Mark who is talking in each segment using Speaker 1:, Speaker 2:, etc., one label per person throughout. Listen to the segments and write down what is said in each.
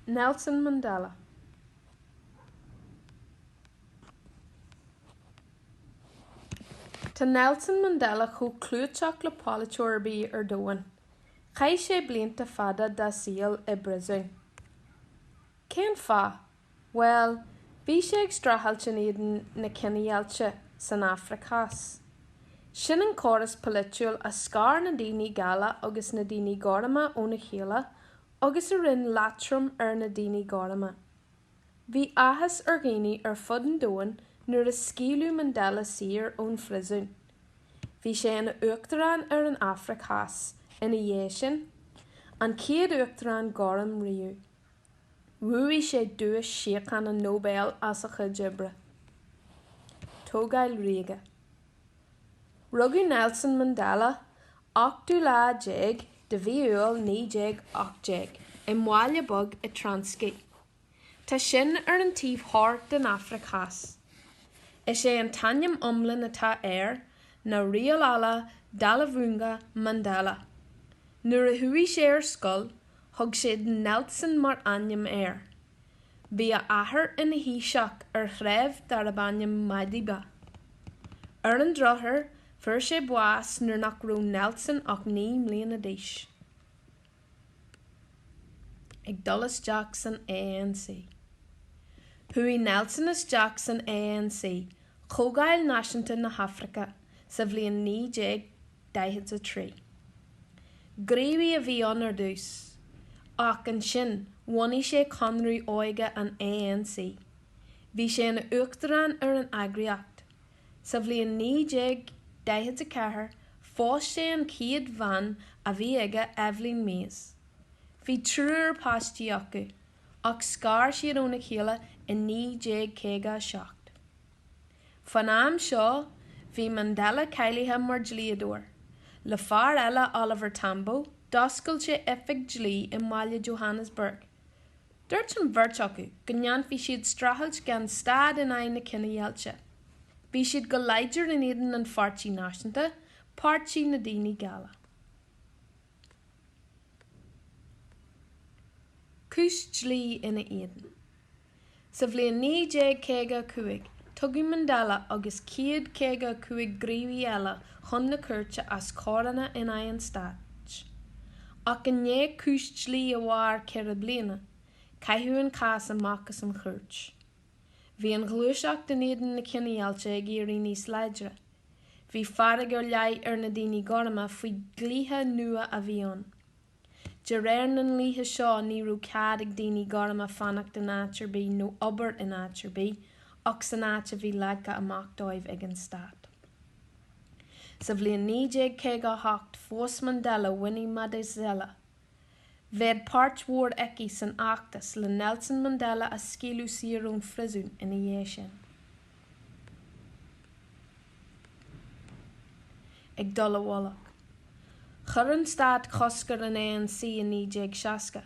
Speaker 1: Nelson Mandela. Tá Nelson Mandela chomh clúiteach le polaiteoir ar bith ar domhan. Chaith sé blianta fada dá saol i bpriosún. Cén fáth? Bhuel, bhí sé ag streachailt in éadan na cinedheighilte san Afraic Theas. Sin an córas polaitiúil a scar na daoine geala agus na daoine gorma óna chéile agus a rinne leatrom ar na daoine gorma. Bhí áthas ar dhaoine ar fud an domhain nuair a scaoileadh Mandela saor ón phriosún. Bhí sé ina uachtarán ar an Afraic Theas ina dhiaidh sin, an chéad uachtarán gorm riamh. Bhuaigh sé Duais Síochána Nobel as a chuid oibre. Tógáil Ríoga. Rugadh Nelson Mandela, ochtú lá déag de mhí Iúil 1918, i mbaile beag i Transkei. Tá sin ar an taobh thoir den Afraic Theas. Is é an t-ainm iomlán atá air ná Rolihlahla Dalibhunga Mandela. Nuair a chuaigh sé ar scoil, thug siad Nelson mar ainm air. Bhí a athair ina thaoiseach ar threibh darb ainm Madiba. Ar an drochuair, fuair sé bás nuair nach raibh Nelson ach naoi mbliana d'aois. Ag dul isteach san ANC. Chuaigh Nelson isteach san ANC Comhdháil Náisiúnta na hAfraice sa bhliain 1943. Gníomhaí a bhí ann ar dtús, ach ansin bhunaigh sé Conradh Óige an ANC. Bhí sé ina uachtarán ar an eagraíocht. Sa bhliain 1944 phós sé an chéad bhean a bhí aige, Evelyn Mase. Bhí triúr páistí acu. ach scar siad óna chéile i 1957. Fán am seo, bhí Mandela cáilithe mar dlíodóir, le fear eile, Oliver Tambo, d'oscail sé oifig dlí i mbaile Johannesburg. Dúirt an bheirt acu go ndéanfadh siad streachailt gan stad in aghaidh na cinedheighilte. Bhí siad go láidir in éadan an Pháirtí Náisiúnta, páirtí na daoine geala. Cúis dlí ina éadan. Sa bhliain 1955, tugadh Mandela agus 155 gníomhaí eile chun na cúirte as coireanna in aghaidh an stáit. Ach i ndiaidh cúis dlí a mhair ceithre bliana, caitheadh an cás amach as an chúirt. Bhí an ghluaiseacht in éadan na cinedheighilte ag éirí níos láidre. Bhí fearg ar leith ar na daoine gorma faoi dhlíthe nua a bhí ann. De réir na ndlíthe seo ní raibh cead ag daoine gorma fanacht in áit ar bith nó obair in áit ar bith ach san áit a bhí leagtha amach dóibh ag an stát. Sa bhliain 1958 phós Mandela Winnie Madikizela. Bheadh páirt mhór aici san fheachtas le Nelson Mandela a scaoileadh saor ón phríosún ina dhiaidh sin. Ag dul i bhfolach. Chuir an stát cosc ar an ANC i 1960.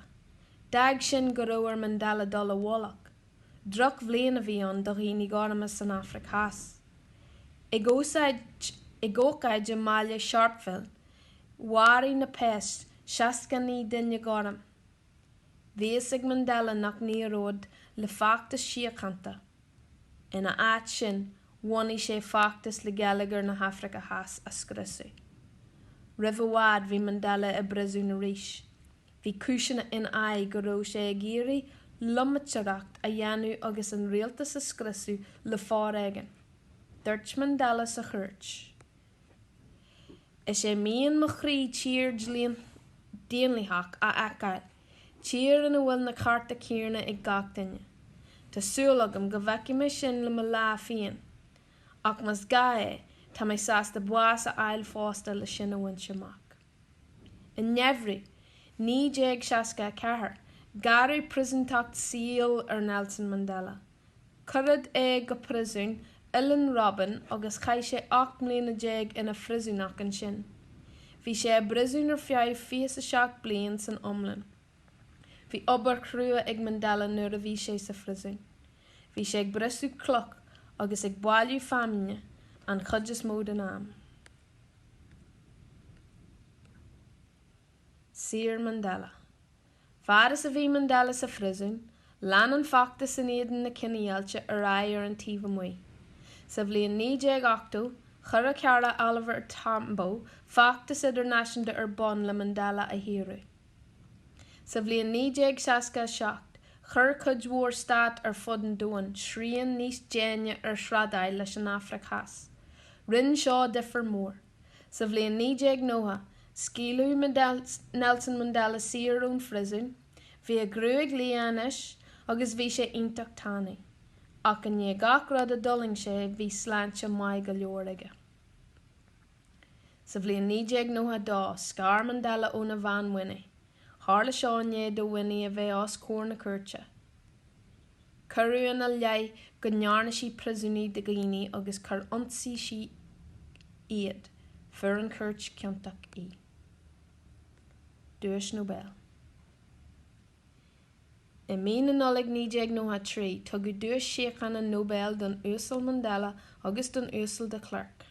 Speaker 1: D'fhág sin go raibh ar Mandela dul i bhfolach. Drochbhliain a bhí ann do dhaoine gorma san Afraic Theas. Ag ócáid i mbaile Sharpeville Mharaigh na péas 69 duine gorm. Bhí a fhios ag Mandela nach n-éireoidh le feachtas síochánta. Ina áit sin, bhunaigh sé feachtas le geilleagar na hAfraice Theas a scriosadh. Roimh i bhfad, bhí Mandela i bpríosún arís. Bhí cúiseanna ina aghaidh go raibh sé ag iarraidh loitiméireacht a dhéanamh agus an rialtas a scriosadh le foréigean. Dúirt Mandela sa chúirt. Is é mian mo chroí tír dhaonlathach a fheiceáil, tír ina bhfuil na cearta céanna ag gach duine. Tá súil agam go bhfeicfidh mé sin le mo lá féin, ach más gá é, tá mé sásta bás a fháil fosta le sin a bhaint amach. I nGeimhreadh 1964, gearradh príosúnacht saoil ar Nelson Mandela. Cuireadh é go príosún Oileán Robben agus chaith sé ocht mbliana déag ina phríosúnach ansin. Bhí sé i bpríosún ar feadh fiche is a seacht bliain san iomlán. Bhí obair chrua ag Mandela nuair a bhí sé sa phríosún. Bhí sé ag briseadh cloch agus ag bailiú feamainne an chuid is mó den am. Saor Mandela. Fad is a bhí Mandela sa phríosún, lean an feachtas in éadan na cinedheighilte ar aghaidh ar an taobh amuigh. Sa bhliain 1980, chuir a chara Oliver Tambo feachtas idirnáisiúnta ar bun le Mandela a shaoradh. Sa bhliain 1967, chuir cuid mhór stát ar fud an domhain srian níos déine ar thrádáil leis an Afraic Theas. Rinne seo difear mór. Sa bhliain 1990, scaoileadh Nelson Mandela saor ón phríosún, bhí a ghruaig liath anois agus bhí sé iontach tanaí, ach i ndiaidh gach rud a d'fhulaing sé bhí sláinte maith go leor aige. Sa bhliain 1992, scar Mandela óna bhean Winnie. Tharla seo i ndiaidh do Winnie a bheith os comhair na cúirte. Cuireadh ina leith go ndearna sí príosúnaigh de dhaoine agus gur ionsaigh sí iad. Fuair an chúirt ciontach í. Duais Nobel. I mí na Nollag 1993, tugadh Duais Síochána Nobel don Uasal Mandela agus don Uasal de Klerk.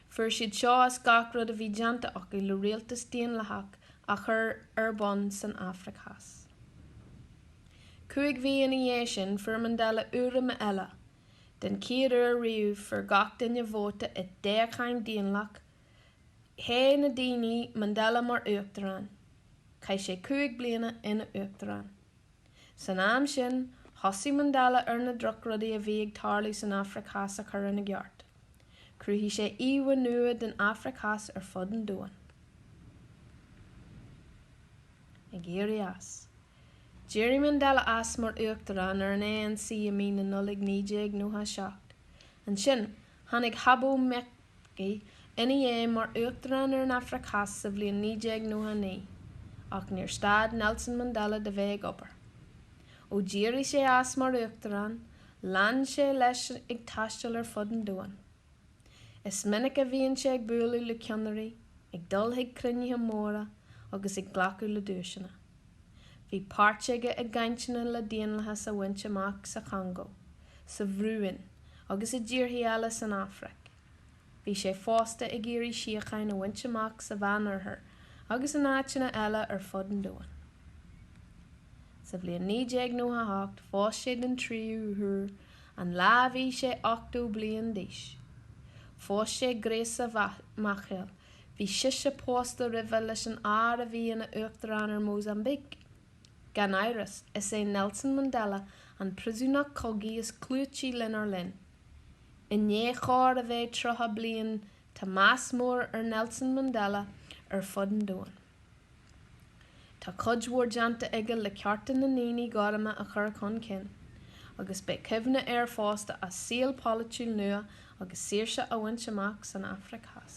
Speaker 1: Fuair siad seo as gach rud a bhí déanta acu le rialtas daonlathach a chur ar bun san Afraic Theas. Cúig mhí ina dhiaidh sin, fuair Mandela urraim eile. Den chéad uair riamh, fuair gach duine vóta i dtoghcháin daonlathach. Thogh na daoine Mandela mar uachtarán, chaith sé cúig bliana ina uachtarán. San am sin, thosaigh Mandela ar na drochrudaí a bhí ag tarlú san Afraic Theas a chur ina gceart. Chruthaigh sé íomhá nua den Afraic Theas ar fud an domhain. Ag éirí as, d'éirigh Mandela as mar uachtarán ar an ANC i mí na Nollag 1997. Ansin, Tháinig Thabo Mbeki ina dhiaidh mar Uachtarán ar an Afraic Theas sa bhliain 1999, ach níor stad Nelson Mandela de bheith ag obair. Ó d'éirigh sé as mar Uachtarán, lean sé leis ag taisteal ar fud an domhain. Is minic a bhíonn sé ag bualadh le ceannairí, ag dul chuig cruinnithe móra agus ag glacadh le duaiseanna. Bhí páirt aige i gcainteanna le daonlathas a bhaint amach sa Chongó, sa Bhurúin agus i dtíortha eile san Afraic. Bhí sé fosta ag iarraidh síocháin a bhaint amach sa Mheánoirthear agus in áiteanna eile ar fud an domhain. Sa bhliain 1998 phós sé den tríú huair, an lá a bhí sé 80 bliain d'aois. Phós sé Graça Machel Bhí sise pósta roimhe leis an fhear a bhí ina Uachtarán ar Mhósaimbíc. Gan amhras, is é Nelson Mandela an príosúnach cogaidh is clúití lenár linn. I ndiaidh chóir a bheith 30 bliain tá meas mór ar Nelson Mandela ar fud an domhain. Tá cuid mhór déanta aige le cearta na ndaoine gorma a chur chun cinn, agus beidh cuimhne air fosta as saol polaitiúil nua agus saoirse a bhaint amach san Afraic Theas.